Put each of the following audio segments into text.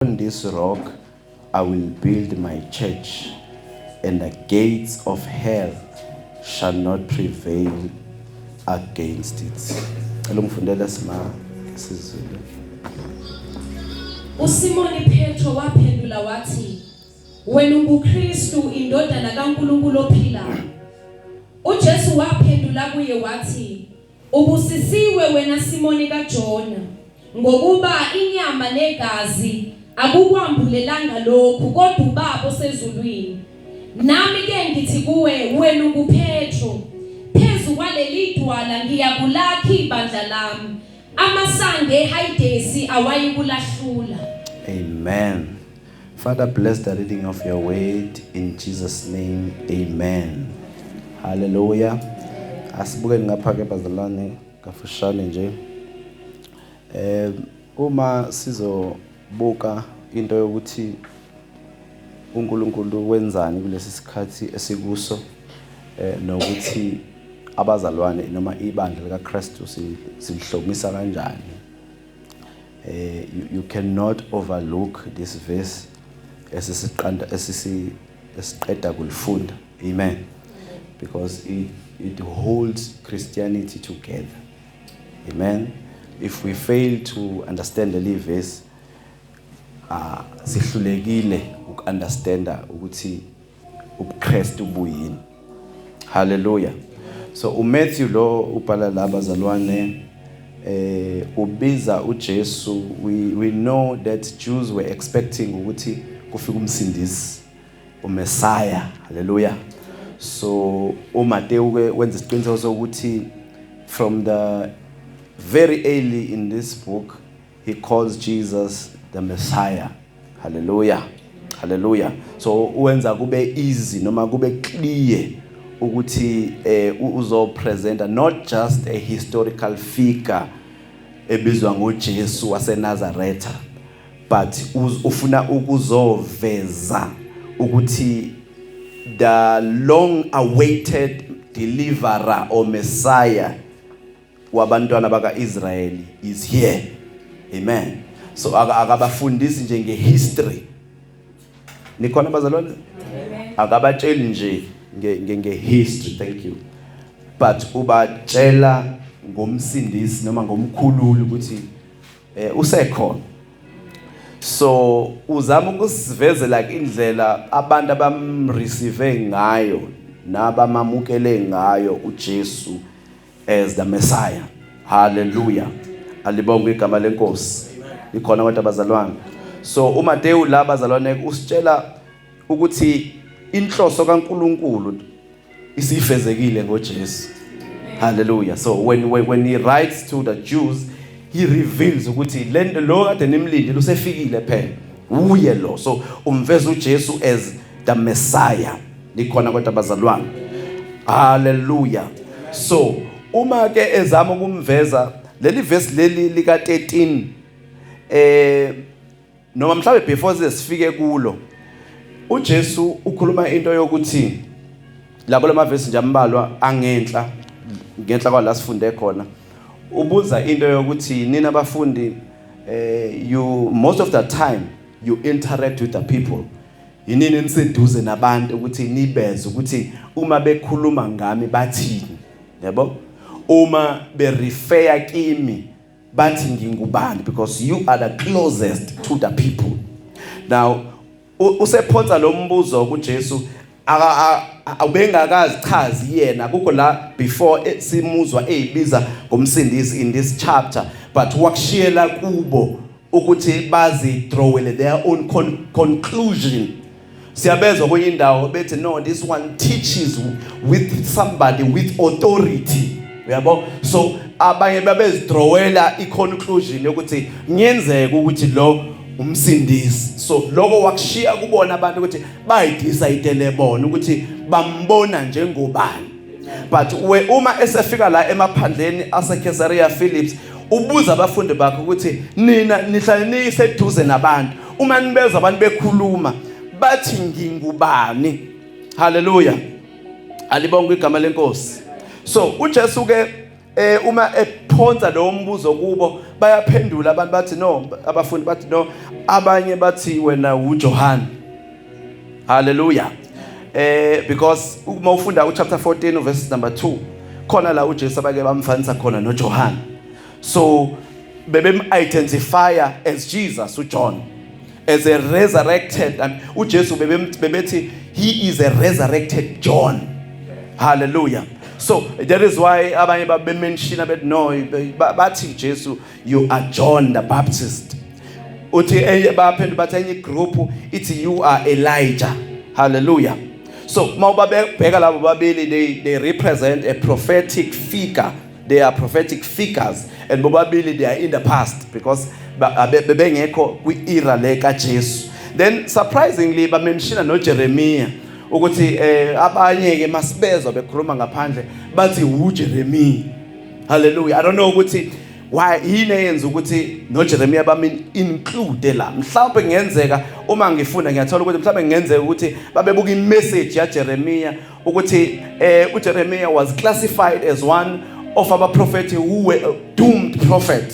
On this rock I will build my church and the gates of hell shall not prevail against it. Cela ungifundele sima isiZulu. USimoni Petro waphendula wathi wena unguKristu indodana kaNkulunkulu ophilayo. UJesu waphendula kuye wathi Ubusisiwe wena Simoni kaJona, ngokuba inyama negazi akukwambulelanga lokhu, kodwa uBaba osezulwini. Nami ke ngithi kuwe, wena unguPetro, phezu kwaleli dwala ngiyakulakha ibandla lami, amasango eHayidesi awayikulahlula. Amen. Father bless the reading of your word in Jesus name amen hallelujah asibuke ngapha ke bazalwane kafushane nje eh uma sizobuka into yokuthi uNkulunkulu wenzani kulesi sikhathi esikuso eh nokuthi abazalwane noma ibandla likaKristu silihlomisa kanjani eh you, you cannot overlook this verse esisiqanda esisi esiqeda kulifunda amen because it it holds christianity together amen if we fail to understand the verse ah sihlulekile ukunderstanda ukuthi ubuKristu buyini haleluya so uMatthew lo ubhala la bazalwane eh ubiza uJesu we we know that Jews were expecting ukuthi kufika umsindisi uMessiah haleluya so uMateyu ke wenza isiqiniseko sokuthi from the very early in this book He calls Jesus the Messiah. Hallelujah. Hallelujah. So uwenza kube easy noma kube clear ukuthi eh uzo presenter not just a historical figure ebizwa ngoJesu waseNazaretha but ufuna ukuzoveza ukuthi the long awaited deliverer or messiah wabantwana bakaIsrayeli is here amen so akabafundisi nje ngehistory nikhona bazalwane akabatsheli nje nge ngehistory thank you but ubatshela ngomsindisi noma ngomkhululi ukuthi eh usekhona so uzama ukusivezela indlela abantu abamreceive ngayo nabamamukele ngayo uJesu as the Messiah. Hallelujah. Alibonge igama lenkosi. Ikhona kodwa abazalwane. So uMateyu la bazalwane usitshela ukuthi inhloso kaNkuluNkulu isifezekile ngoJesu. Hallelujah. So when when, when he writes to the Jews he reveals ukuthi lento lo kade nimlinde lusefikile phela. uye lo so umveza uJesu as the messiah likhona kodwa bazalwane haleluya so uma ke ezama ukumveza leli verse leli lika 13 eh noma mhlawumbe before sesifike kulo uJesu ukhuluma into yokuthi labo lamavesi nje ambalwa angenhla ngenhla kwala sifunde khona ubuza into yokuthi nina bafundi eh you most of the time you interact with the people yinini eniseduze nabantu ukuthi nibeze ukuthi uma bekhuluma ngami bathini yabo uma be refer kimi bathi ngingubani because you are the closest to the people now usephonsa lo mbuzo kuJesu ubengakazi chazi yena kukho la before eh, simuzwa eyibiza ngomsindisi in this chapter but wakushiyela kubo ukuthi bazi drawele their own con conclusion siyabezwa kwenye indawo bethi no this one teaches with somebody with authority uyabo so abanye babezidrowela i-conclusion yokuthi ngenzeka ukuthi lo umsindisi so lokho wakushiya kubona abantu ukuthi bayidecide lebona ukuthi bambona njengobani but we uma esefika la emaphandleni aseCaesarea Phillips ubuza abafundi bakhe ukuthi nina nihlale niyiseduze nabantu uma nibeza abantu bekhuluma bathi ngingubani haleluya alibonga igama lenkosi so uJesu ke eh uma ephonsa lowo mbuzo kubo bayaphendula abantu bathi no abafundi bathi no abanye bathi wena uJohane haleluya eh because uma ufunda uchapter 14 verse number 2 khona la uJesu abake bamfanisa khona noJohane so bebem identifier as Jesus uJohn as a resurrected and uJesu bebethi he is a resurrected John hallelujah so that is why abanye babemenshina bethi no bathi Jesu you are John the Baptist uthi enye baphendu bathi enye group ithi you are Elijah hallelujah so mawubabeka labo babili they they represent a prophetic figure they are prophetic figures and bobabili they are in the past because bebengekho kwi-era le kaJesu then surprisingly bamemshina noJeremiya ukuthi eh abanye ke masibezwa bekhuluma ngaphandle bathi uJeremiya hallelujah i don't know ukuthi why yini eyenza ukuthi noJeremiya bami include la mhlawumbe kungenzeka uma ngifunda ngiyathola ukuthi mhlawumbe kungenzeka ukuthi babebuka imessage yaJeremiya ukuthi eh uJeremiah was classified as one of abaprofethi who were doomed prophet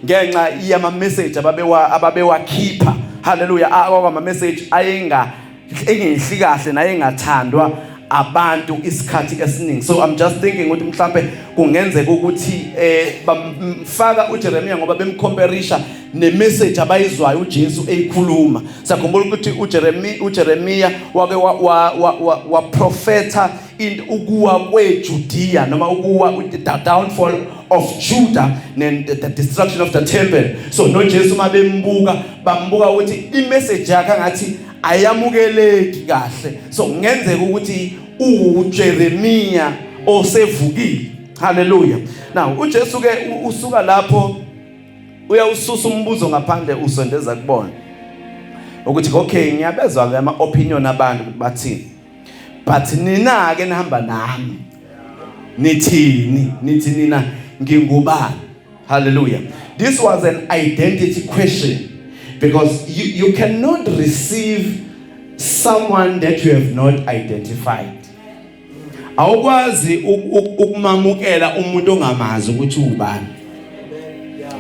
ngenxa yama message ababewa ababewakhipha haleluya akwama message ayenga engenhli kahle naye engathandwa abantu isikhathi esiningi so i'm just thinking ukuthi mhlambe kungenzeka ukuthi eh bamfaka uJeremiah ngoba bemcomperisha nemessage abayizwayo uJesu eyikhuluma sakhumbula ukuthi uJeremiya uJeremiya wake wa, wa, wa, wa, wa profeta in ukuwa kweJudea noma ukuwa the downfall of Judah and the destruction of the temple so noJesu mabembuka bambuka ukuthi imessage yakhe ngathi ayamukeleki kahle so kungenzeka ukuthi uJeremiya osevukile haleluya now uJesu ke usuka lapho uyawususa umbuzo ngaphandle usondeza kubona ukuthi okay ngiyabezwa ke ama opinion abantu ukuthi bathini but nina ke nihamba nami nithini nithi nina ngingubani hallelujah this was an identity question because you, you cannot receive someone that you have not identified awukwazi ukumamukela umuntu ongamazi ukuthi ubani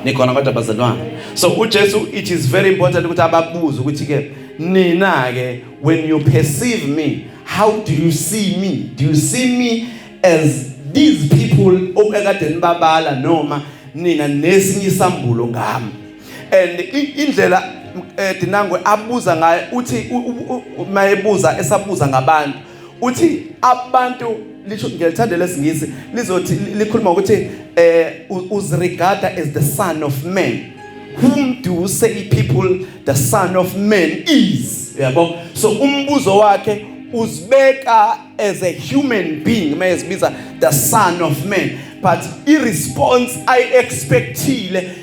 nikhona kodwa bazalwane so uJesu it is very important ukuthi ababuze ukuthi ke nina ke when you perceive me how do you see me do you see me as these people okade nibabala noma nina nesinye isambulo ngami and indlela eh, dinangwe abuza ngayo uthi mayebuza esabuza ngabantu uthi abantu lisho ngiyalithanda lesingisi lizothi likhuluma ukuthi eh uzirigada as the son of man whom do you say people the son of man is yabo so umbuzo wakhe uzibeka as a human being mayezibiza the son of man but i response i expectile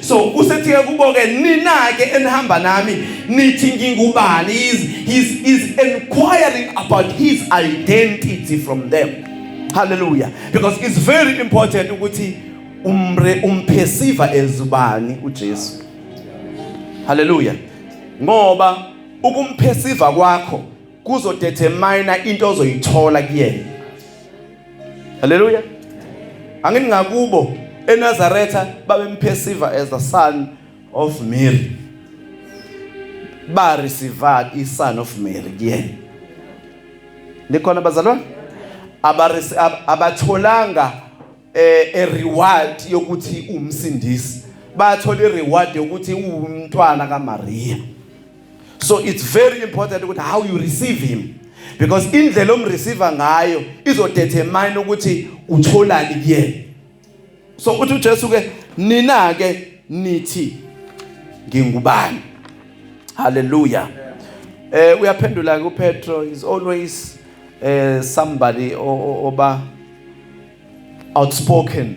so usethi ke kubo ke nina ke enihamba nami nithi ngingubani is is is inquiring about his identity from them hallelujah because it's very important ukuthi umre umphesiva ezubani uJesu hallelujah ngoba ukumphesiva kwakho kuzodetermine into ozoyithola kuyena haleluya angini ngakubo eNazaretha babemphesiva as the son of Mary ba receiver i son of Mary kuyena likhona bazalwane abatholanga eh, a reward yokuthi umsindisi bathola i reward yokuthi uwumntwana kaMaria so it's very important ukuthi how you receive him because indlela omreceive ngayo izodetermine ukuthi utholani kuyena so uthi uJesu ke nina ke nithi ngingubani haleluya eh uyaphendula ku Petro is always eh somebody oba outspoken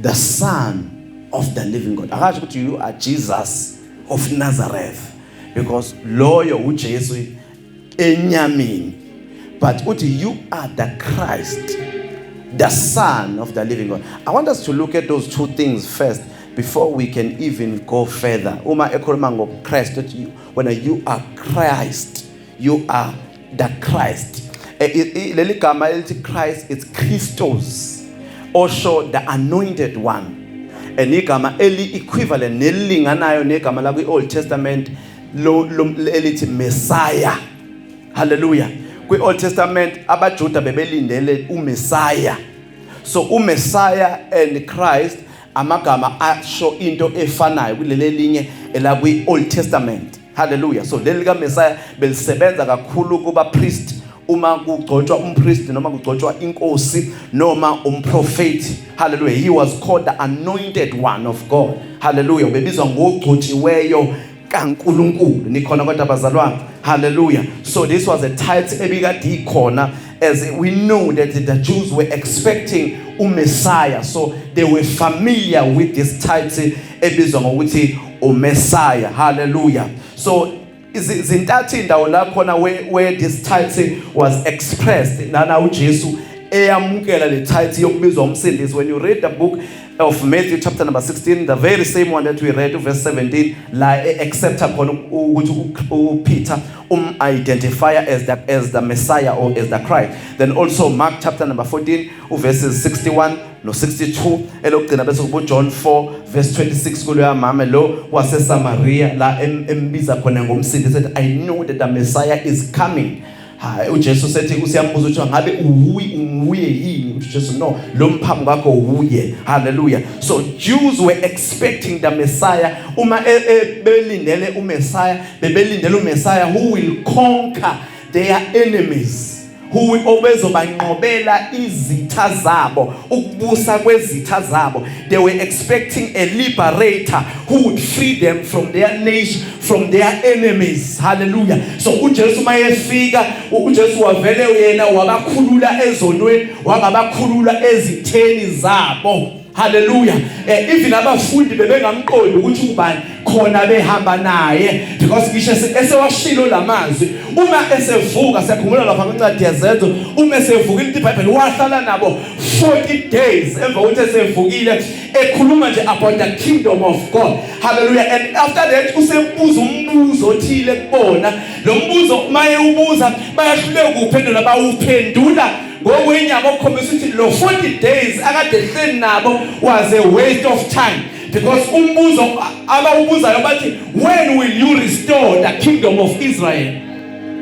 the son of the living God akasho ukuthi you are Jesus of Nazareth because loyo uJesu enyameni but uthi you are the Christ the son of the living God i want us to look at those two things first before we can even go further uma ekhuluma ngoKristu when you are Christ you are the Christ eh, leli gama elithi Christ it's Christos osho the anointed one and igama eli equivalent nelilinganayo negama la kwi Old Testament lo elithi Messiah hallelujah kwi Old Testament abaJuda bebelindele uMessiah so uMessiah and Christ amagama asho into efanayo kuleli linye elakwi Old Testament Hallelujah. So leli ka Messiah belisebenza kakhulu kuba priest uma kugcotshwa umpriest noma kugcotshwa inkosi noma umprofeti hallelujah he was called the anointed one of God hallelujah ubebizwa ngogcotshiweyo kaNkuluNkulu nikhona kodwa bazalwane hallelujah so this was a title ebikade ikhona as we know that the Jews were expecting uMessiah so they were familiar with this title ebizwa ngokuthi uMessiah hallelujah so izintathu indawo la khona where, where this title was expressed nana uJesu eyamukela le title yokubizwa umsindisi when you read the book of Matthew chapter number 16 the very same one that we read verse 17 la e accepta khona ukuthi uPeter um identify as the as the Messiah or as the Christ then also Mark chapter number 14 verses 61 no-62 elokugcina bese kubujohn 4 verse 26 kuloya mame lo wasesamariya la embiza khona ngomsindi sethi i know that the messiah is coming hayi ujesu sethi usiyambuza ukuthi ngabe uwuyi unguye yini ukuthi jesu no lo mphamu kakho wuye haleluya so jews were expecting the messiah uma e, e, belindele umessiah bebelindele umessiah who will conquer their enemies Huwi obezobanqobela izitha zabo ukubusa kwezitha zabo they were expecting a liberator who would free them from their nation from their enemies hallelujah so uJesu mayefika uJesu wavele yena wabakhulula ezonweni wangabakhulula ezitheni zabo Hallelujah. Eh even abafundi bebengamqondi ukuthi ubani khona behamba naye because ngisho esewashilo lamazwi uma esevuka siyakhumula lapha kwencwadi yezenzo uma esevuka into iBhayibheli wahlala nabo 40 days emva kokuthi esevukile ekhuluma nje about the kingdom of God. Hallelujah. And after that usebuza umbuzo othile kubona. Lo mbuzo maye ubuza bayahluleka ukuphendula bawuphendula ngokwenyama okukhombisa ukuthi lo 40 days akade ehleli nabo was a waste of time because umbuzo abawubuzayo bathi when will you restore the kingdom of Israel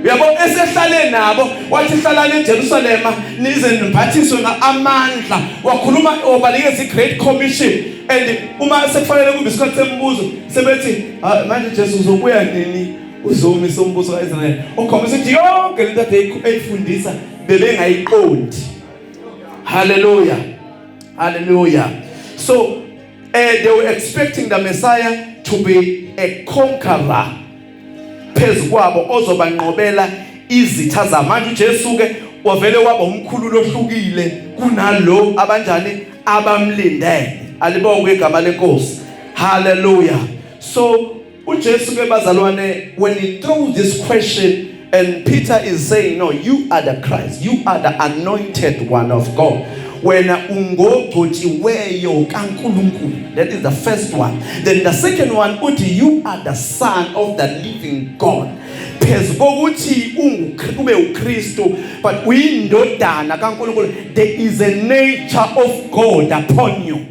uyabo esehlale nabo wathi hlalani eJerusalem nize niphathiswe amandla wakhuluma obalekeza iGreat Commission and uma sekufanele kube isikhathi sembuzo sebethi ah, manje Jesu uzobuya nini uzomisa umbuso kaIsrael ukhombisa ukuthi yonke lento ayifundisa bebengayiqondi haleluya haleluya so uh, they were expecting the messiah to be a conqueror phezu kwabo ozobanqobela izitha zamanje uJesu ke wavele waba umkhulu lohlukile kunalo abanjani abamlindele alibonge igama lenkosi haleluya so UJesu ke bazalwane when he throws this question and Peter is saying no you are the Christ you are the anointed one of God wena ungogcotshiweyo kaNkuluNkulu that is the first one then the second one uthi you are the son of the living God phezu kokuthi ube uKristu but uyindodana kaNkuluNkulu there is a nature of God upon you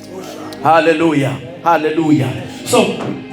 Hallelujah. Hallelujah. So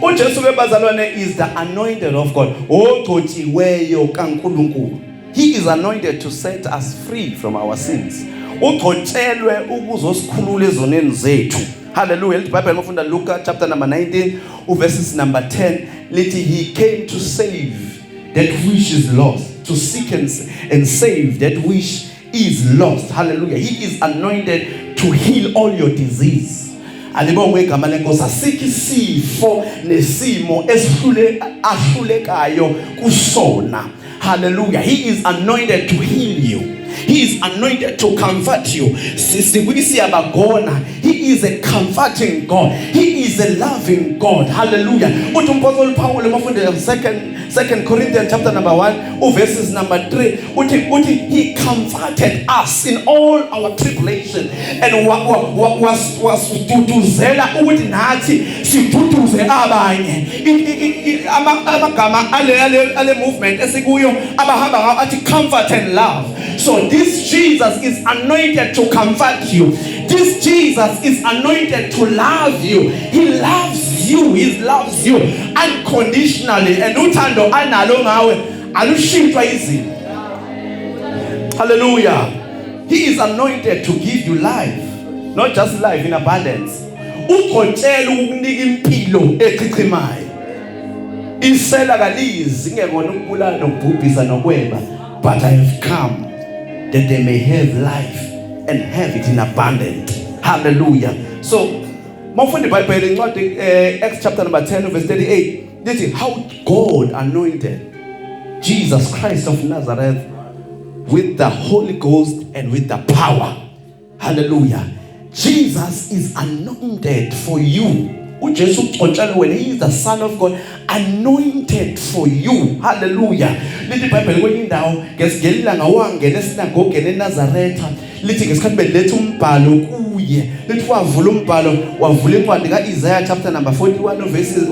uJesu ke bazalwane is the anointed of God. Ogcotshiweyo kaNkuluNkulu. He is anointed to set us free from our sins. Ugcotshelwe ukuzosikhulula ezoneni zethu. Hallelujah. The Bible mufunda Luka chapter number 19 uverses number 10 lithi he came to save that which is lost, to seek and, and save that which is lost hallelujah he is anointed to heal all your disease alibongwe igama lenkosi asikho isifo nesimo esihlule ahlulekayo kusona hallelujah he is anointed to heal you he is anointed to comfort you sikwisi yabagona he is a comforting god he is a loving god hallelujah uthi umphostoli Paul emafundela second Second Corinthians chapter number 1 uverses number 3 uthi uthi he comforted us in all our tribulation and wasitutuzela ukuthi nathi siduduze abanye amagama ale ale movement esikuyo abahamba ngawo athi comfort and love so this Jesus is anointed to comfort you this Jesus is anointed to love you he loves you he loves you unconditionally and uthando analo ngawe alushintshwa izimo hallelujah he is anointed to give you life not just life in abundance ugotshela ukukunika impilo echichimayo isela kalizi ngekona ukubulala nokubhubhisa nokweba but i have come that they may have life and have it in abundance hallelujah so Mawufunda iBhayibheli incwadi eh, Acts chapter number 10 verse 38 lithi how God anointed Jesus Christ of Nazareth with the Holy Ghost and with the power. Hallelujah. Jesus is anointed for you. uJesu ugcotshelwe wena he is the son of God anointed for you haleluya lithi ibhayibheli kwenye indawo ngesilanga wangena esinagogeni enazaretha lithi ngesikhathi beletha umbhalo kuye lithi wavula umbhalo wavula incwadi ka-isaya chapter number 41 verses,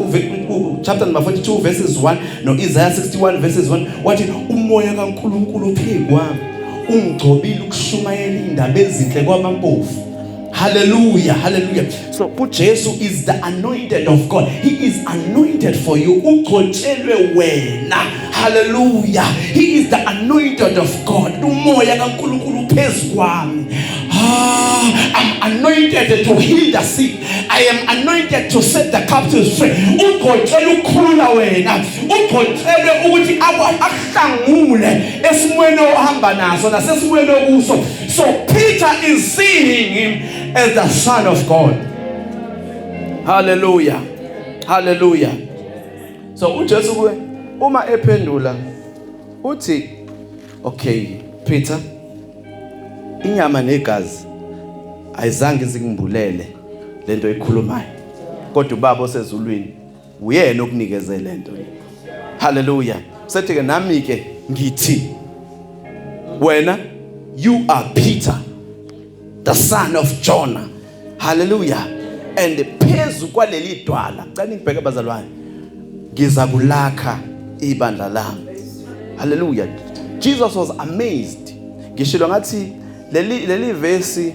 chapter number 42 verses 1 no-isaya 61 verses 1 wathi umoya kankulunkulu uphekwami ungigcobile ukushumayela iy'ndaba ezinhle kwabampofu Hallelujah, hallelujah. So uJesu is the anointed of God. He is anointed for you. Ugcotshelwe wena. Hallelujah. He is the anointed of God. Umoya kaNkulunkulu phezu kwami. Ah, I'm anointed to heal the sick. I am anointed to set the captives free. Ugcotshela ukukhulula wena. Ugcotshele ukuthi ahlangule esimweni ohamba naso nasesimweni okuso. So Peter is seeing him as the son of God. Hallelujah. Hallelujah. So uJesu kuwe uma ephendula uthi okay Peter inyama negazi ayizange izingimbulele lento ekhulumayo kodwa ubaba osezulwini uyena okunikeze le nto le haleluya sethi ke nami ke ngithi wena you are peter the son of jonah haleluya and phezu kwaleli dwala cela ngibheke bazalwane ngiza kulakha ibandla lami haleluya jesus was amazed ngishilo ngathi leli leli verse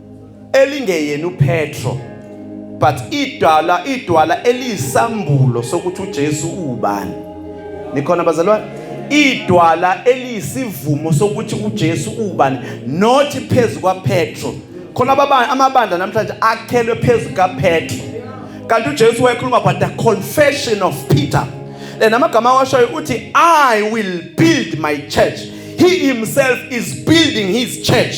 elingeyena uPetro but idwala idwala eliyisambulo sokuthi uJesu uwubani nikhona bazalwane idwala eliyisivumo sokuthi uJesu uwubani not phezu kwaPetro khona ababani amabandla namhlanje akhelwe phezu kaPetro kanti uJesu wayekhuluma about the confession of Peter lena amagama awashoyo uthi i will build my church he himself is building his church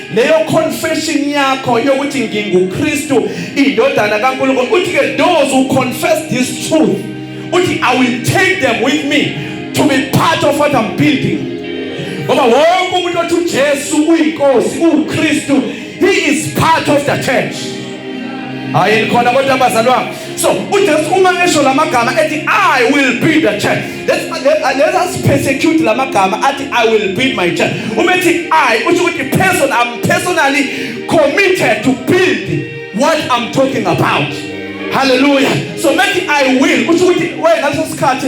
leyo confession yakho yokuthi nginguKristu indodana kaNkulunkulu uthi ke those who confess this truth uthi I will take them with me to be part of what I'm building ngoba wonke umuntu othi uJesu uyinkosi uKristu he is part of the church hayi khona kodwa abazalwa So uJesu uma esho lamagama ethi I will build the church. Let's let us persecute lamagama athi I will build my church. Uma ethi I usho ukuthi person I'm personally committed to build what I'm talking about. Hallelujah. So methi I will usho ukuthi wena leso sikhathi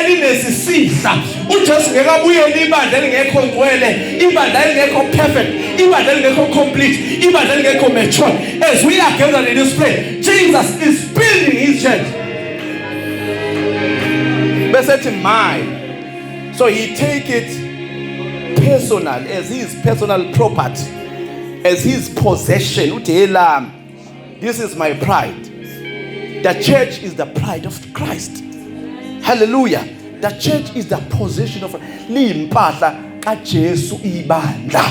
elinesisihla uJesu ngeke abuyele ibandla elingekho ngcwele ibandla elingekho perfect ibandla elingekho complete ibandla elingekho mature as we are gathered in this place Jesus is building his church bese thi my so he take it personal as his personal property as his possession uthi helami This is my pride. The church is the pride of Christ. Hallelujah. The church is the position of liyimpahla kaJesu ibandla.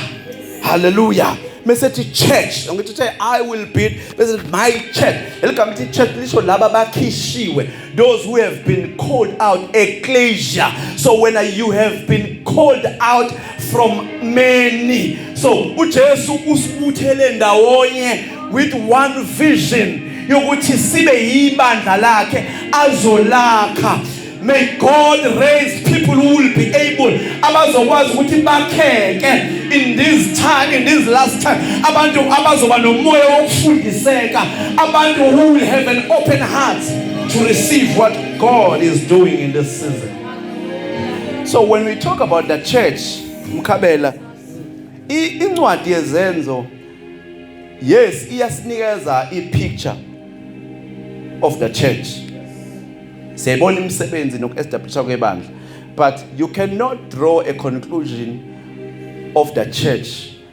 Hallelujah. mesethi church ngithi I will build bese my church eligama ithi church lisho laba bakhishiwe those who have been called out ecclesia so when you have been called out from many so uJesu usibuthele ndawonye with one vision yokuthi sibe yibandla lakhe azolakha May God raise people who will be able abazokwazi ukuthi bakheke in this time in this last time abantu abazoba nomoya wokufundiseka abantu who will have an open heart to receive what God is doing in this season. So when we talk about the church, Mkabela, incwadi yezenzo yes iyasinikeza i picture of the church. Siyayibona imisebenzi nokuestablishwa kwebandla. But you cannot draw a conclusion of the church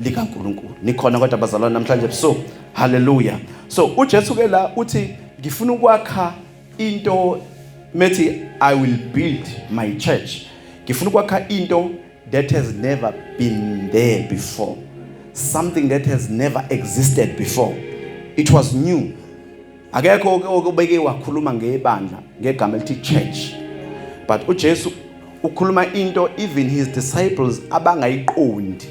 likaNkulunkulu. Nikhona kodwa bazalwane namhlanje ebusuku. Hallelujah. So uJesu ke la uthi ngifuna ukwakha into methi I will build my church. Ngifuna ukwakha into that has never been there before. Something that has never existed before. It was new. akekho okubeke wakhuluma ngebandla ngegama elithi church but uJesu ukhuluma into even his disciples abangayiqondi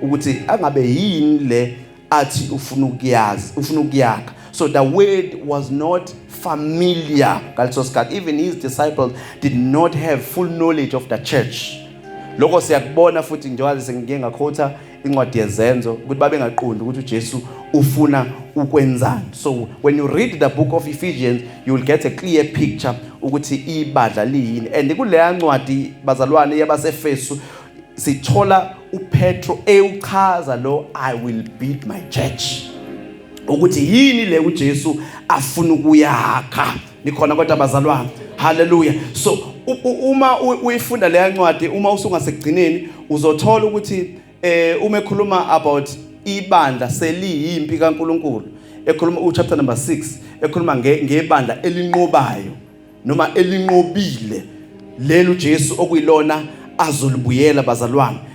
ukuthi angabe yini le athi ufuna ukuyazi ufuna ukuyakha so the word was not familiar ngaleso sikhathi even his disciples did not have full knowledge of the church lokho siyakubona futhi njengoba sengike ngakhotha incwadi yezenzo ukuthi babengaqondi ukuthi uJesu ufuna ukwenzani so when you read the book of Ephesians you will get a clear picture ukuthi ibadla liyini and kuleya ncwadi bazalwane yabaseFesu sithola uPetro ewuchaza lo I will build my church ukuthi yini le uJesu afuna ukuyakha nikhona kodwa bazalwane haleluya so uma uyifunda leya ncwadi uma usungasekugcineni uzothola ukuthi eh uma ekhuluma about ibandla seliyimpi kaNkuluNkulu ekhuluma u chapter number 6 ekhuluma ngebandla elinqobayo noma elinqobile lelo Jesu okuyilona azolibuyela bazalwane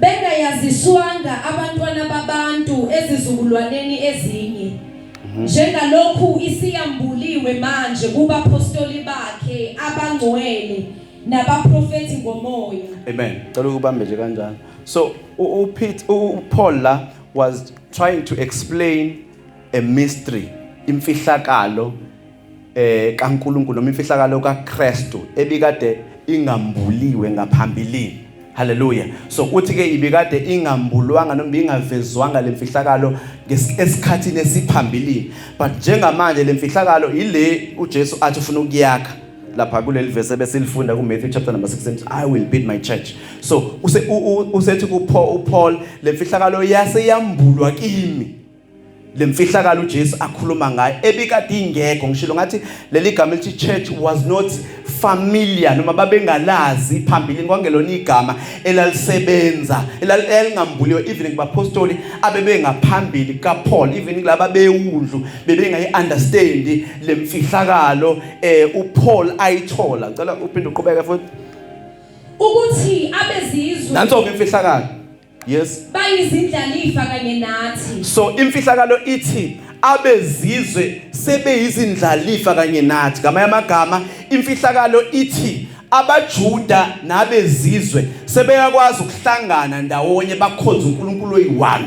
bengayaziswanga abantwana babantu ezizukulwaneni ezinye mhm. njengalokhu isiyambuliwe manje kubapostoli bakhe abangcwele nabaprofeti ngomoya amen cela ukubambe nje kanjalo so uPete uPaul la was trying to explain a mystery imfihlakalo eh kaNkuluNkulu noma imfihlakalo kaKristu ebikade ingambuliwe ngaphambilini Hallelujah. So uthi ke ibikade ingambulwanga noma ingavezwanga lemfihlakalo esikhathini esiphambilini. But njengamanje lemfihlakalo ile uJesu athi ufuna ukuyakha lapha kuleli verse besilifunda ku Matthew chapter number 16 I will build my church. So use usethi ku Paul lemfihlakalo yase yambulwa kimi. lemfihlakalo uJesu akhuluma ngayo ebikade ingekho ngishilo ngathi leli gama elithi church was not familiar noma babengalazi phambili kwangelona igama elalisebenza elalingambuliwe even kubapostoli abebengaphambili kaPaul even kulaba bewundlu bebengayi understand lemfihlakalo eh uPaul ayithola ngicela uphinde uqhubeke futhi ukuthi abezizwe nanso ke imfihlakalo Yes. Bayizindlalifa kanye nathi. So imfihlakalo ithi abezizwe sebeyizindlalifa kanye nathi. Ngamanye amagama imfihlakalo ithi abaJuda nabezizwe sebeyakwazi ukuhlangana ndawonye bakhonza uNkulunkulu oyi-1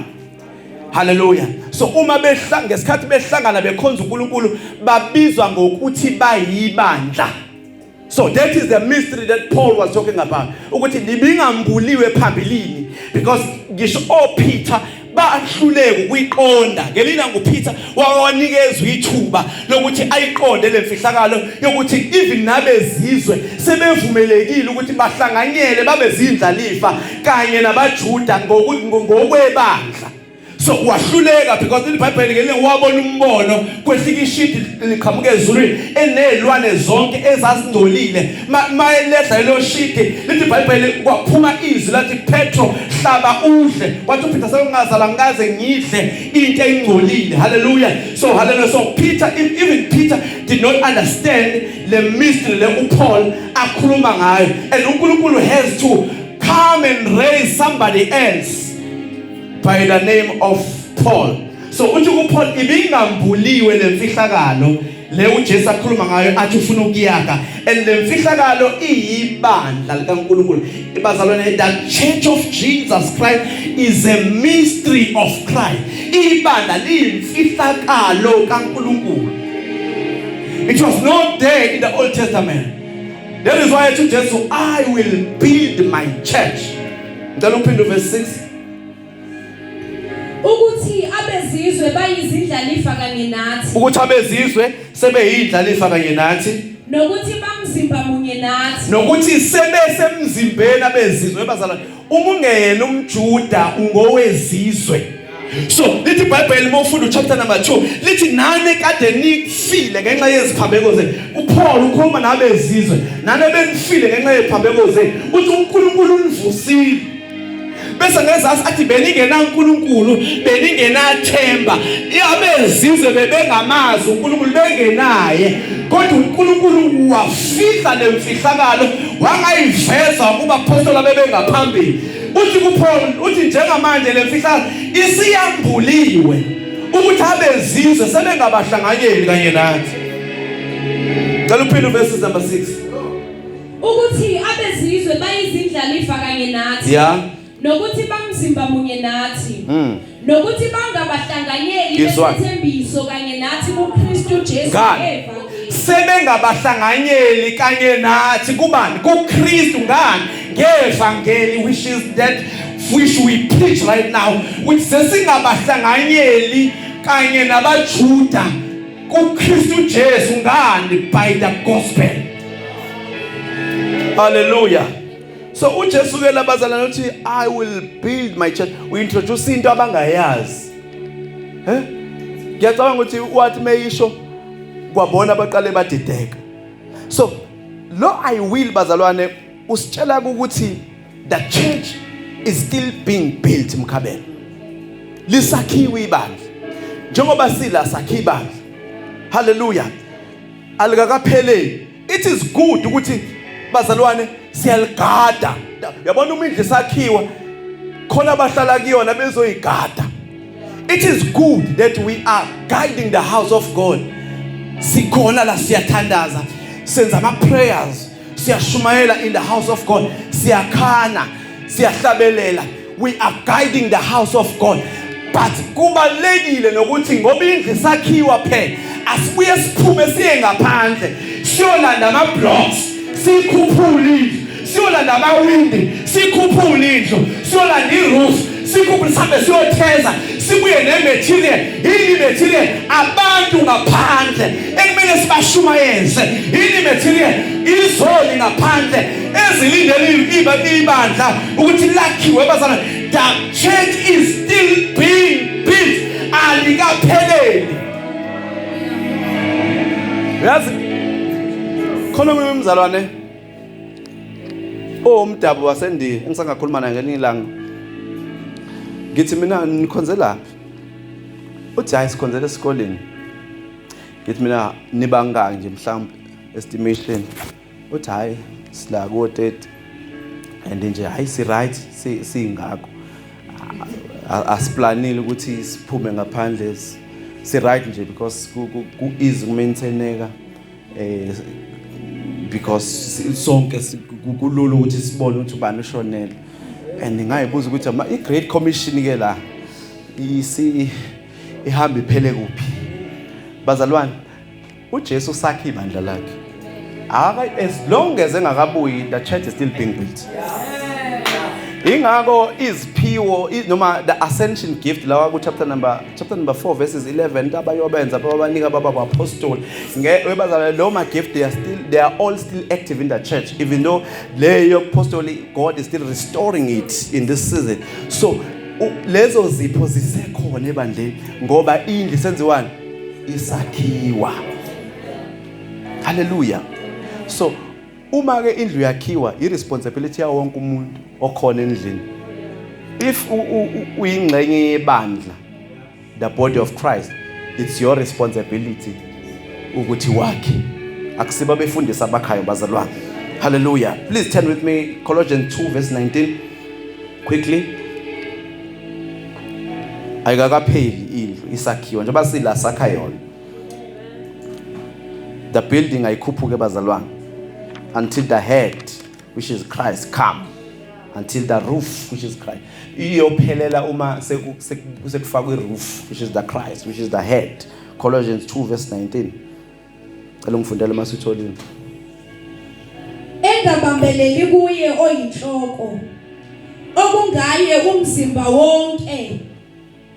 Hallelujah. So uma behlanga ngesikhathi behlangana bekhonza uNkulunkulu babizwa ngokuthi bayibandla. So that is the mystery that Paul was talking about. Ukuthi libingambuliwe phambilini because ngisho oPeter bahluleke ukuyiqonda ngelina nguPeter wawanikezwa ithuba lokuthi ayiqonde lemfihlakalo yokuthi even nabezizwe sebevumelekile ukuthi bahlanganyele babe zindlalifa kanye nabaJuda ngokwebandla so wahluleka because ilibhayibheli ngelinye wabona umbono kwehlika ishidi liqhamuka ezulwini enezilwane zonke ezazingcolile mayelehla lelo shidi lithi ibhayibheli kwaphuma izwi lathi Petro hlaba udle kwathi uPeter sekungazala ngikaze ngidle into engcolile haleluya so haleluya so Peter even Peter did not understand le mystery le uPaul akhuluma ngayo and uNkulunkulu has to come and raise somebody else by the name of Paul so uthi kuPaul ibingambuliwe lemfihlakalo le uJesu akhuluma ngayo athi ufuna ukuyaka and lemfihlakalo iyibandla likaNkuluNkulu ibazalwane the church of Jesus Christ is a mystery of Christ ibandla liyimfihlakalo kaNkuluNkulu it was not there in the Old Testament that is why to Jesus I will build my church ngicela uphinde verse 6 ukuthi abezizwe bayizindlalifa kanye nathi ukuthi abezizwe sebeyindlalifa kanye nathi nokuthi bamzimba munye nathi nokuthi sebese emzimbeni abezizwe bazalwane uma ungeyena umjuda ungowezizwe so lithi ibhayibheli uma ufunda uchapter number 2 lithi nane kade nifile ngenxa yeziphambeko zenu uPaul ukhuluma nabezizwe nane benifile ngenxa yeziphambeko zenu uthi uNkulunkulu univusile bese ngezazi athi beningenankulunkulu beningenathemba abezizwe bebengamazi unkulunkulu bengenaye kodwa unkulunkulu wafihla le mfihlakalo wangayiveza kubaphostoli abebengaphambili uthi kuphol uthi njengamanje le mfihlakalo isiyambuliwe ukuthi abezizwe sebengabahlanganyeli kanye nathi cela uphinde uvesi number 6 ukuthi abezizwe bayizindlalifa kanye nathi yeah nokuthi bamzimba munye nathi mm. nokuthi bangabahlanganyeli besithembiso kanye nathi kuKristu Jesu evangeli sebengabahlanganyeli kanye nathi kubani kuKristu ngani ngevangeli which is that which we preach right now ukuthi sesingabahlanganyeli kanye nabaJuda kuKristu Jesu ngani by the gospel haleluya so uJesu ke labazalana uthi i will build my church we introduce into abangayazi eh ngiyacabanga ukuthi wathi meyisho kwabona abaqale badideka so lo i will bazalwane usitshela ukuthi the church is still being built mkhabelo lisakhiwe ibandla njengoba sila sakhe ibandla haleluya alikakapheleli it is good ukuthi bazalwane siyaligada yabona uma indlu isakhiwa khona abahlala kuyona bezoyigada it is good that we are guiding the house of god sikhona la siyathandaza senza ama prayers siyashumayela in the house of God siyakhana siyahlabelela we are guiding the house of God but kubalekile nokuthi ngoba indlu sakhiwa phela asibuye siphume siye ngaphandle siyolanda ama blocks sikhuphule indlu siyolanda amawindi sikhuphule indlu siyolanda iroof sikhumbule sihambe siyotheza sibuye nematerial yini imaterial abantu ngaphandle ekumele sibashumayeze yini imaterial izoli ngaphandle ezilindele ibandla ukuthi lakhiwe bazana the church is still being built alikapheleli yazi khona umzalwane owomdabu wasendiya engisangakhuluma naye ngelinye ilanga ngithi mina nikhonzelaphi uthi hayi sikhonzela esikoleni ngithi mina nibangaki nje mhlawumbe estimation uthi hayi sila ko-30 and nje hayi si-right siyingakho asiplanile ukuthi siphume ngaphandle si-right nje because ku-easy kumaintaineka eh because sonke kulula ukuthi sibone ukuthi ubani ushonele and ngayibuza ukuthi i great commission ke la isi ihamba iphele kuphi bazalwane uJesu sakhe ibandla lakhe aka as long as engakabuyi the church is still being built ingakho iziphiwo noma the ascension gift lawa ku chapter number chapter number 4 verses 11 into abayobenza bababanika baba baphostoli webazalwane lo ma-gift they are still they are all still active in the church even though le yokuphostoli god is still restoring it in this season so lezo zipho zisekhona ebandleni ngoba indlu senziwani isakhiwa haleluya so Uma ke indlu yakhiwa i responsibility yawo wonke umuntu okhona endlini. If uyingxenye yebandla the body of Christ it's your responsibility ukuthi wakhe. Akusiba befundisa abakhayo bazalwane. Hallelujah. Please turn with me Colossians 2 verse 19 quickly. Ayikakapheli indlu isakhiwa njengoba sila sakha yona. the building ayikhuphuke bazalwane until the head which is Christ come until the roof which is Christ iyophelela uma sekufakwa iroof which is the Christ which is the head Colossians 2 verse 19 cela ngifundele masitholini engabambeleli kuye oyinhloko okungaye umzimba wonke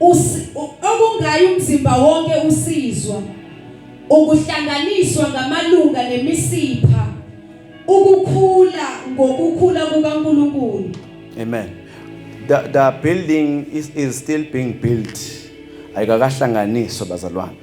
okungayi umzimba wonke usizwa ukuhlanganiswa ngamalunga nemisipha ukukhula ngokukhula kukaNkulunkulu amen the, the building is, is still being built ayikakahlanganiswa bazalwane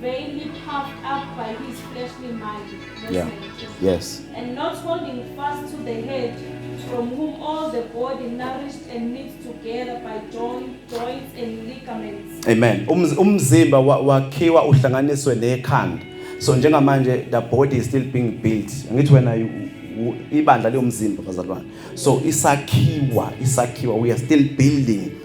vainly puffed up by his fleshly mind. Yeah. Yes. And not holding fast to the head, from whom all the body nourished and knit together by joint, joints and ligaments. Amen. Umzimba wakhiwa uhlanganiswe nekhanda. So njengamanje the body is still being built. Ngithi wena ibandla liyomzimba bazalwane. So isakhiwa, isakhiwa we are still building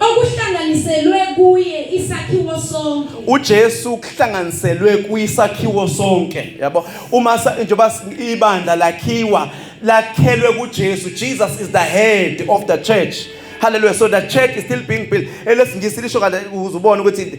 okuhlanganiselwe kuye isakhiwo sonke uJesu kuhlanganiselwe kuyisakhiwo sonke yabo uma njengoba ibandla lakhiwa lakhelwe kuJesu Jesus is the head of the church hallelujah so the church is still being built elesingisi lisho kade uzubona ukuthi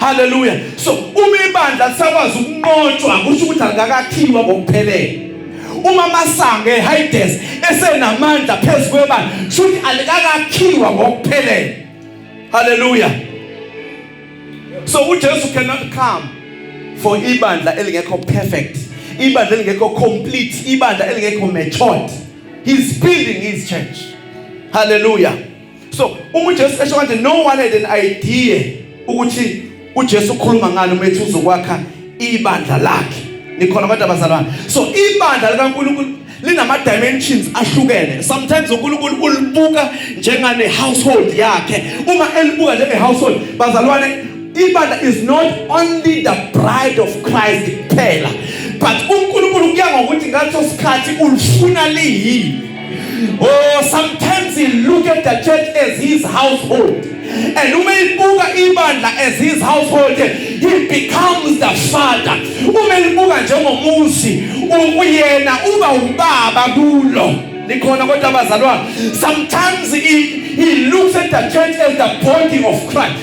Hallelujah. So uma ibandla lisakwazi ukunqotshwa kusho ukuthi alikakakhiwa ngokuphelele. Uma masange eHades esenamandla phezulu kwebandla kusho ukuthi alikakakhiwa ngokuphelele. Hallelujah. So uJesu cannot come for ibandla elingekho perfect, ibandla elingekho complete, ibandla elingekho matured. He's building his church. Hallelujah. so uma uJesu esho kanje no one had an idea ukuthi uJesu ukhuluma ngani uma ethi uzokwakha ibandla lakhe nikhona abantu abazalwana so ibandla likaNkulunkulu linama dimensions ahlukene sometimes uNkulunkulu ulibuka njengane household yakhe uma elibuka njenge household bazalwane ibandla is not only the bride of Christ kuphela but uNkulunkulu kuya ngokuthi ngathi osikhathi ulifuna liyini Oh, sometimes he look at the church as his household. And uma ibuka ibandla as his household, he becomes the father. Uma ibuka njengomuzi, uyena uba ubaba kulo. Nikhona kodwa abazalwane. Sometimes he, he looks at the church as the body of Christ.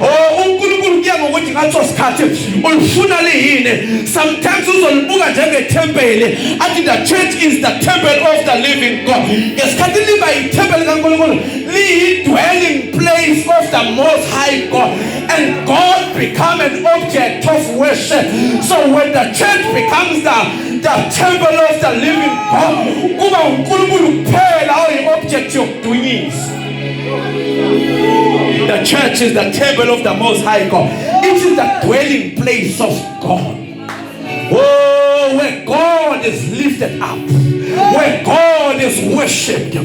Oh, uNkulunkulu kuya ngokuthi ngaso sikhathi ulifuna liyini. Sometimes uzolibuka njengethempeli athi the church is the temple of the living God. Ngesikhathi liba yithempeli kaNkulunkulu, liyi dwelling place of the most high God and God become an object of worship. So when the church becomes the the temple of the living God, kuba uNkulunkulu kuphela oyi object yokudunyisa. The church is the temple of the most high God. It is the dwelling place of God. Oh, where God is lifted up. Where God is worshipped.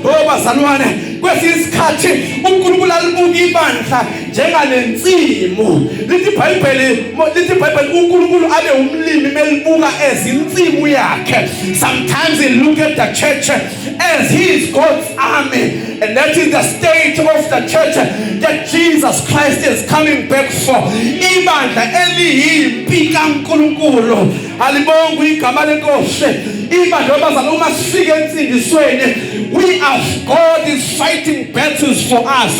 Oh, bazalwane, kwesinye isikhathi uNkulunkulu alibuka ibandla njengalensimu. Lithi iBhayibheli, lithi iBhayibheli uNkulunkulu abe umlimi melibuka ezinsimu yakhe. Sometimes he look at the church as he is God's army. And that is the state of the church that Jesus Christ is coming back for. Ibandla eliyimpi kaNkulunkulu. Alibonga igama lenkosi. Ibandla abazana uma sifike ensindisweni we are God is fighting battles for us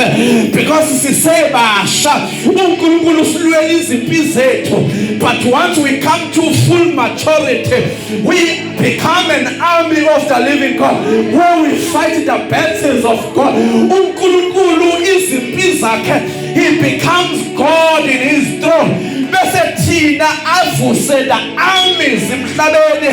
because sisebasha uNkulunkulu usilwela izimpi zethu but once we come to full maturity we Become an army of the living God where we fight the battles of God. UNkulunkulu izimpi zakhe he becomes God in his throne. Bese thina avuse the armies emhlabeni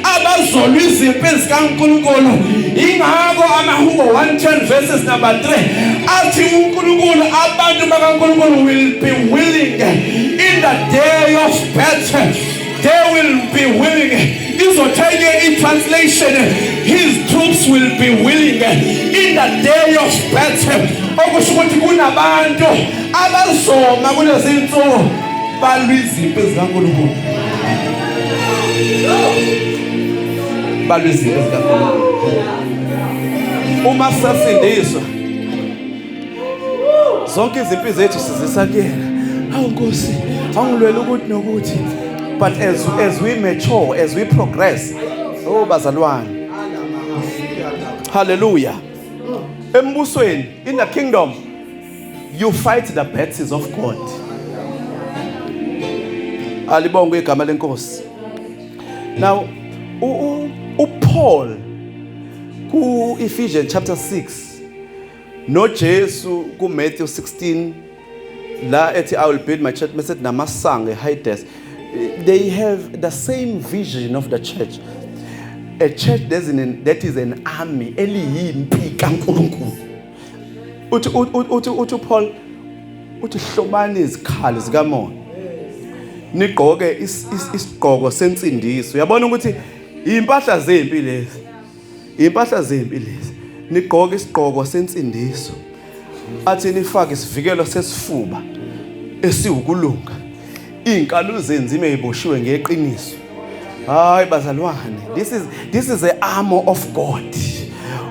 abazolwa izimpi zikaNkulunkulu. Ingakho amahubo 110 verses number 3 athi uNkulunkulu abantu bakaNkulunkulu will be willing in the day of battle They will be willing. Izothenye i-translation. His troops will be willing in the day of battle. Okusho ukuthi kunabantu abazoma kulezi nsuku balwa izimpi zikaNkulunkulu. Balwa izimpi zikaNkulunkulu. Uma sasindiswa zonke izimpi zethu sizisa kuyena awu nkosi awungilwela ukuthi nokuthi but as, as we mature as we progress oh bazalwane haleluya embusweni in the kingdom you fight the battles of god alibongwe igama lenkosi now uPaul ku Ephesians chapter 6 NoJesu kuMatthew 16 la ethi I will build my church mase namasango eHades they have the same vision of the church a church that is an army eliyimpi kaNkulunkulu uthi uthi uthi uPaul uthi hlobani izikhali zikamoya nigqoke isigqoko sensindiso uyabona ukuthi impahla zempi lezi Impahla zempi lezi. Nigqoke isigqoko sensindiso. Athi nifake isivikelo sesifuba esiwukulunga. Izinkalo zenzima eziboshiwe ngeqiniso. Hayi bazalwane, this is this is the armor of God.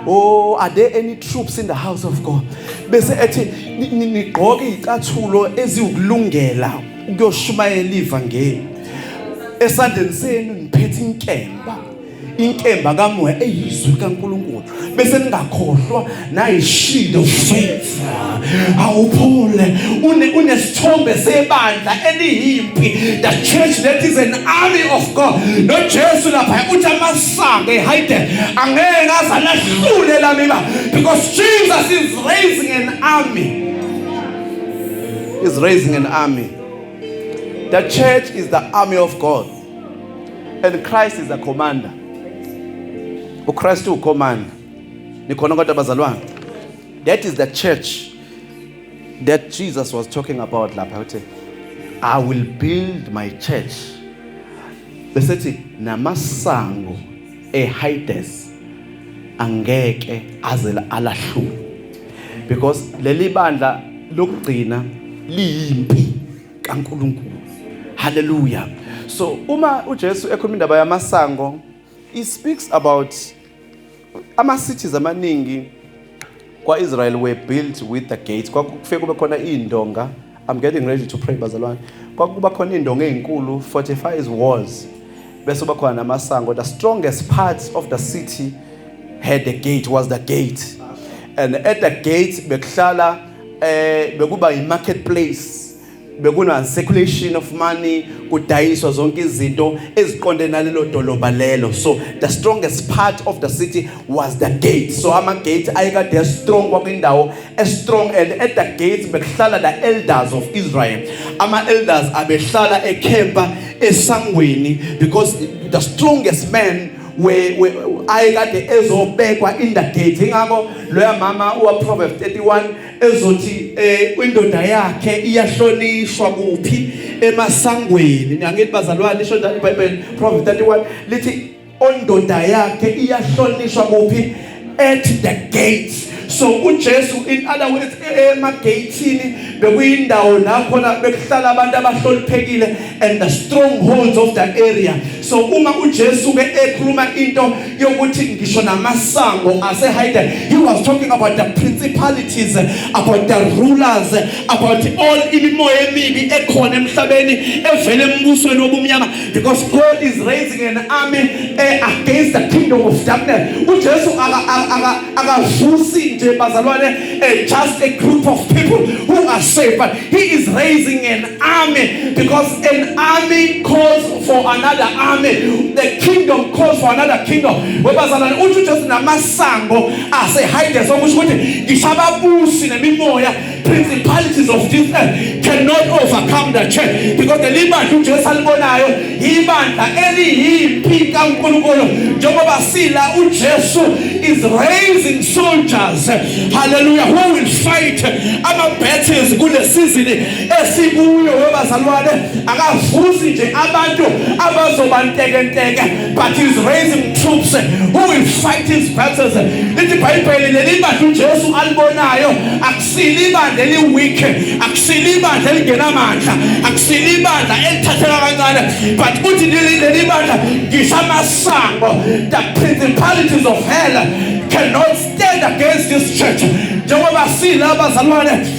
Oh, are there any troops in the house of God? Bese ethi nigqoke izicathulo eziwukulungela ukuyoshumayela ivangeli. Esandleni senu niphethe inkemba. inkemba kamoya eyizwi kaNkulunkulu bese ningakhohlwa nayishindo faith awuphole une unesithombe sebandla eliyimpi the church that is an army of God no Jesu lapha uthi amasange hide angeke azalahlule lamiba because Jesus is raising an army is raising an army the church is the army of God and Christ is a commander uChrist ucommander nikhona kodwa bazalwane that is the church that Jesus was talking about lapha uthi I will build my church besethi namasango eHades angeke aze alahluke because leli bandla lokugcina liyimpi kaNkulunkulu haleluya so uma uJesu ekhuluma indaba yamasango he speaks about ama cities amaningi kwa-israel were built with the gates kwakufike kube khona iy'ndonga i'm getting ready to pray bazalwane kwakuba khona iy'ndonga ey'nkulu fortifies walls bese uba khona namasango the strongest part of the city had the gate was the gate and at the gate bekuhlala eh bekuba yi marketplace bekuna circulation of money kudayiswa zonke izinto eziqonde nalelo dolobha lelo so the strongest part of the city was the gate so ama gate ayekade strong kwakwindawo e strong and at the gate bekuhlala the elders of Israel ama elders abehlala ekhempa esangweni because the strongest man we we ayekade ezobekwa in the gate ingakho loya mama uwa Proverbs 31 ezothi eh indoda yakhe iyahlonishwa kuphi emasangweni ngiyangithi bazalwane isho njalo iBhayibheli Proverbs 31 lithi ondoda yakhe iyahlonishwa kuphi at the gates so uJesu in other words emagatini bekuyindawo la khona bekuhlala abantu abahloniphekile and the strongholds of that area so uma uJesu ke ekhuluma into yokuthi ngisho namasango ase hide he was talking about the principalities about the rulers about all imimoya emibi ekhona emhlabeni evele embusweni wobumnyama Because God is raising an army uh, against the kingdom of darkness. UJesu akavusi nje bazalwane uh, just a group of people who are saved but he is raising an army because an army calls for another army. The kingdom calls for another kingdom. Webazalwane uthi uJesu namasango ase hide sokusho ukuthi ngishababusi nemimoya principalities of this earth cannot overcome the church because the libandla uJesu alibonayo ibandla eliyimpi kaNkulunkulu njengoba sila uJesu is raising soldiers hallelujah who will fight ama battles kule season esikuyo webazalwane akavusi nje abantu abazobantekenteke but he's raising troops who will fight his battles lithi ibhayibheli leli bandla ujesu alibonayo akusile ibandla eliweak akusile ibandla elingenamandla akusile ibandla elithatheka kancane but uthi leli bandla ngisho amasango the principalities of hell cannot stand against this church njengoba silabazalwane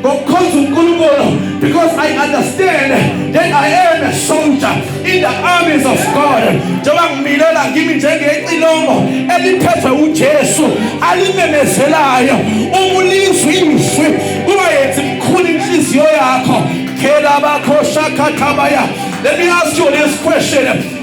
ngokukhonza uNkulunkulu because I understand that I am a soldier in the armies of God njengoba ngimilela ngimi njengecilongo eliphethwe uJesu alimemezelayo umulizwe izwi kuba yenza imkhulu inhliziyo yakho phela bakho shakhathabaya let me ask you this question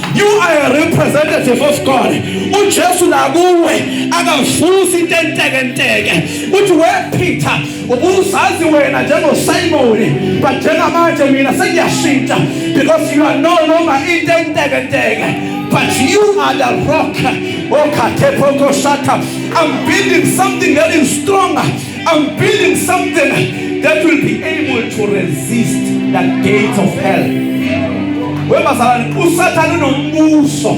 You are a representative of God. UJesu nakuwe akavusi into entekenteke. Uthi we Peter ubuzazi wena njengoSimoni but njengamanje mina sengiyashintsha because you are no longer into entekenteke but you are the rock. Oh, Katepo Koshata. I'm building something that is stronger. I'm building something that will be able to resist the gates of hell. Webazalwane uSathane unombuso.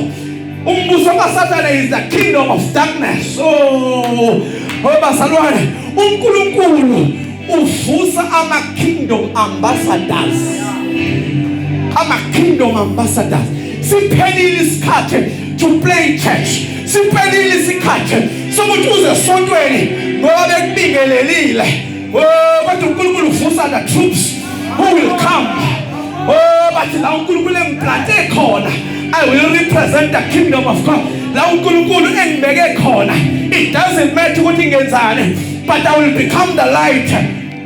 Umbuso kaSathane is the kingdom of darkness. So oh, webazalwane uNkulunkulu uvusa ama kingdom ambassadors. Ama kingdom ambassadors. Siphelile isikhathi to play church. Siphelile isikhathi sokuthi uze sontweni ngoba bekubingelelile. Oh kodwa uNkulunkulu uvusa the troops who will come. Oh bathi la uNkulunkulu engiplante khona. I will represent the kingdom of God. La uNkulunkulu engibeke khona. It doesn't matter ukuthi ngenzani but I will become the light.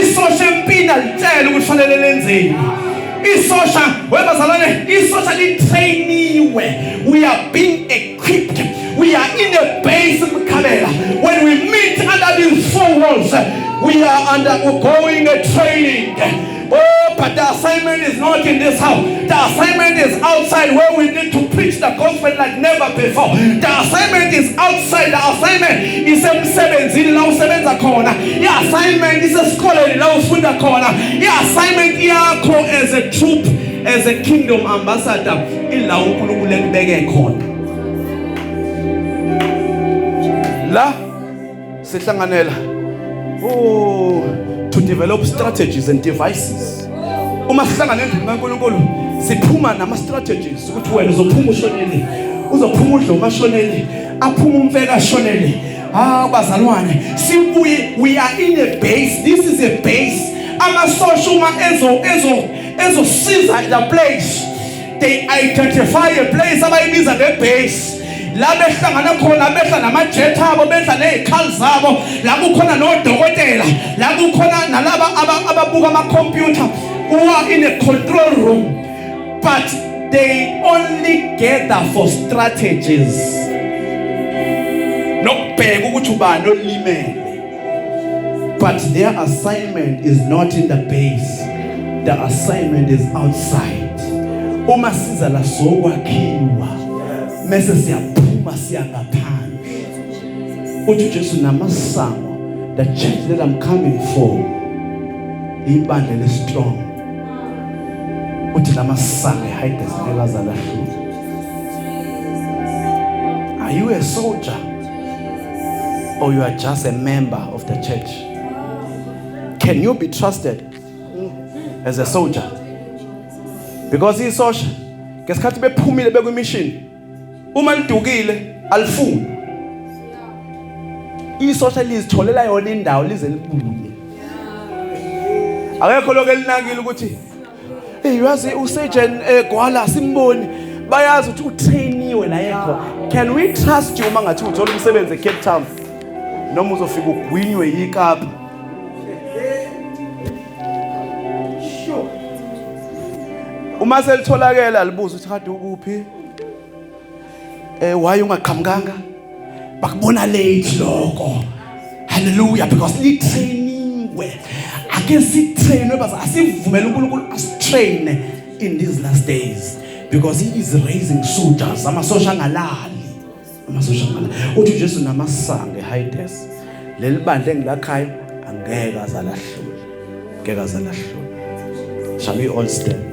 isosha empina litshela ukuthi fanele lenzeni isosha webazalwane isosha litrainiwe we are being equipped we are in a base mkhabela when we meet under these four walls we are undergoing a training Oh, but the assignment is not in this house. The assignment is outside where we need to preach the gospel like never before. The assignment is outside. The assignment is emsebenzini la usebenza khona. The assignment is esikoleni la ufunda khona. The assignment yakho as a troop, as a kingdom ambassador ila uNkulunkulu ekubeke khona. La sihlanganela oh to develop strategies and devices uma sihlangana endlini kaNkulunkulu siphuma nama strategies ukuthi wena uzophuma ushonele uzophuma udlo kashonele aphuma umfeka ashonele ah bazalwane sibuye we are in a base this is a base amasosha uma ezo ezo ezosiza the place they identify a place abayibiza ngebase la behlangana khona behla namajet abo behla nezikhali zabo la kukhona nodokotela la kukhona nalaba ababuka ama computer who are in a control room but they only gather for strategies nokubheka ukuthi ubani olimele But their assignment is not in the base. The assignment is outside. Uma siza la sokwakhiwa mese siyaphuma siya ngaphandle. Uthi Jesu namasango the church that I'm coming for ibandla le strong. Uthi namasango hide izinto ezalahlula. Are you a soldier? or you are just a member of the church. Can you be trusted as a soldier? Because isosha ngesikhathi bephumile bekwimishini uma lidukile alifuni isosha lizitholela yona indawo lize libuye akekho lokho elinakile ukuthi Hey uyazi usejen egwala eh, simboni bayazi ukuthi utrainiwe la yedwa can we trust you uma ngathi uthola umsebenzi eCape Town noma uzofika ugwinywe yikapa uma selitholakele alibuza ukuthi kade ukuphi Eh why ungaqhamukanga? Bakubona late lokho. Hallelujah because li trainingiwe. Ake si trainwe bas asivumele uNkulunkulu asitrain in these last days because he is raising soldiers amasosha ngalali. Amasosha ngalali. Uthi Jesu namasange high desk. Leli bandla engilakhayo angeke azalahlule. Ngeke azalahlule. Shall we all stand?